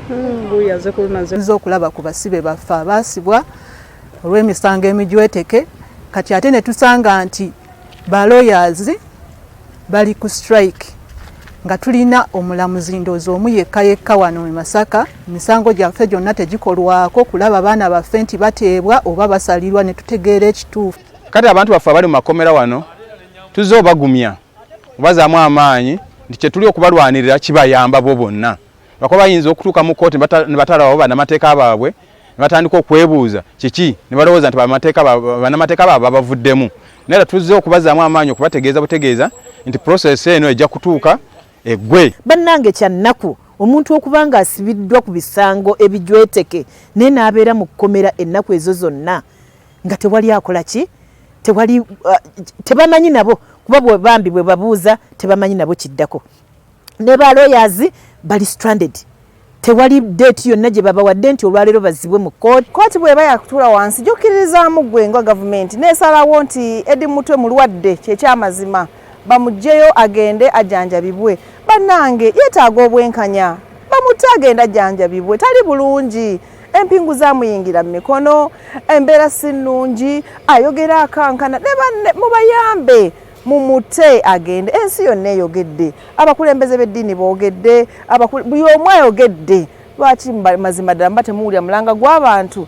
hmm, nze okulaba ku basibe baffe abaasibwa olw'emisango emijweteke kati ate ne tusanga nti baloyazi bali ku strike nga tulina omulamuzi ndoozi omu yekka yekka wano mu masaka emisango gyaffe gyonna tegikolwako kulaba baana baffe nti bateebwa oba basalirwa ne tutegeera ekituufu kati abantu baffe abali mu makomera wano tuzze obagumya kubazaamu amaanyi nti kyetuli okubalwanirira kibayamba bo bonna lwakuba bayinza okutuuka mu kkooti ne batalababo banamateeka baabwe ne batandika okwebuuza kiki ne balowooza nti banamateeka baabwe babavuddemu naye tuzze okubazaamu amaanyi okubategeeza butegeeza nti process eno ejja kutuuka eggwe bannange kya nnaku omuntu okuba nga asibiddwa ku bisango ebijweteke naye n'abeera mu kkomera ennaku ezo zonna nga tewali akola ki tewali uh, tebamanyi nabo kuba bwe bambi bwe babuuza tebamanyi nabo kiddako ne ba lawyers bali stranded tewali date yonna gye babawadde nti olwaleero bazibwe mu kooti kooti bweba yakutula wansi gyokiririzaamu gwe nga gavumenti nesalawo nti edi mutwe mulwadde kyekyamazima bamugjeyo agende ajanjabibwe banange yetaaga obwenkanya bamutta agenda janjabibwe tali bulungi empingu zamuyingira mu mikono embeera si nnungi ayogera akankana ne banne mubayambe mumute agende ensi yonna eyogedde abakulembeze b'eddiini boogedde buli omu ayogedde lwaki mazima ddala mba temuwulira mulanga gw'abantu